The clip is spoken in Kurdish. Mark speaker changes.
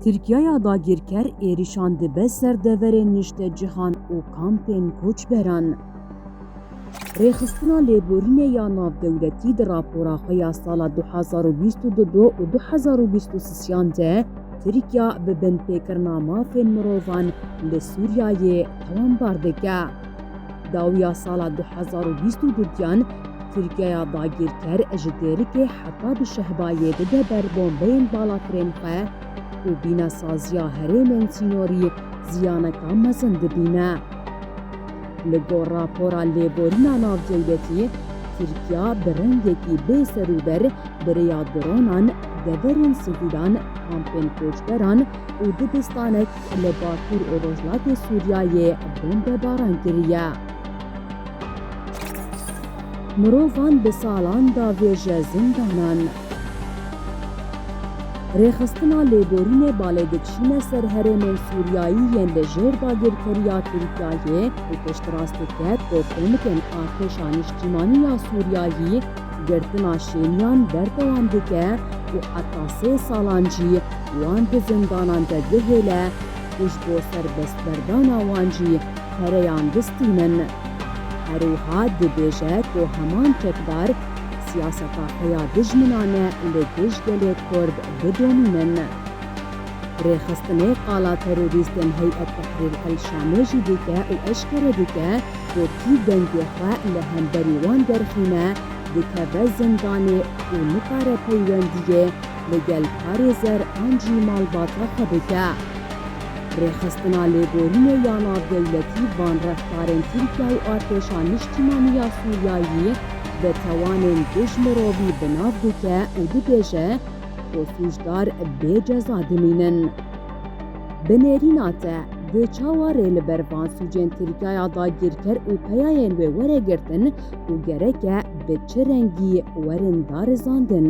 Speaker 1: Tirkiyaya dagîrker êrîşan dibe ser deverên niştecihan û kampên koçberan. Rêxistina lêborînê ya navdewletî di rapora xwe ya sala du hezar û bîst û du du û du hezar û bîst û sisiyan de Tirkiya bi binpêkirina mafên mirovan li Sûriyeyê tewambar dike. Dawiya sala du hezar û bîst û du diyan, Tirkiyeya dagîrker ji dêrikê heta bi Şehbayê dide ber bombeyên balatirên xwe û bîna saziya herêmên sînorî ziyaneke mezin dibîne. Li gor rapora lêborîna navdewletî, Tirkiya bi rengekî bê serûber bi rêya dronan deverên sivîlan, kampên koçberan û dibistanek Li Bakur û Rojhilatê Sûriyeyê bombebaran kiriye. Mirovan bi salan davêje zindanan. Rêxistina lêborînê balê dikişîne ser herêmên Sûriyeyî yên li jêr dagirkeriya Tirkiyeyê û piştrast diket ku komikên artêşa niştîmanî ya Sûriyeyî, Girtina şêniyan berdewam dike û heta sê salan jî wan di zindanan de bihêle û ji bo serbestberdana wan jî pereyan bistînin. Herwiha dibêje ku heman çekdar siyaseta xwe ya dijminane li dij gelê Kurd bidomînin. Rêxistinê qala terorîstên Heyet Tahrir El Şamê jî dike û eşkere dike ku kî dengê xwe li hemberî wan derxîne dikeve zindanê û nikare peywendiyê li gel parêzer an jî malbata xwe bike. Rêxistina Lêborînê ya Navdewletî van reftarên Tirkiye û Artêşa Niştîmanî ya Sûriyeyî bi tawanên dij mirovî bi nav dike û dibêje, ku sûcdar bê ceza dimînin. Bi nêrîna te dê çawa rê li ber van sûcên Tirkiyaya dagîrker û peyayên wê were girtin û gereke bi çi rengî werin darizandin?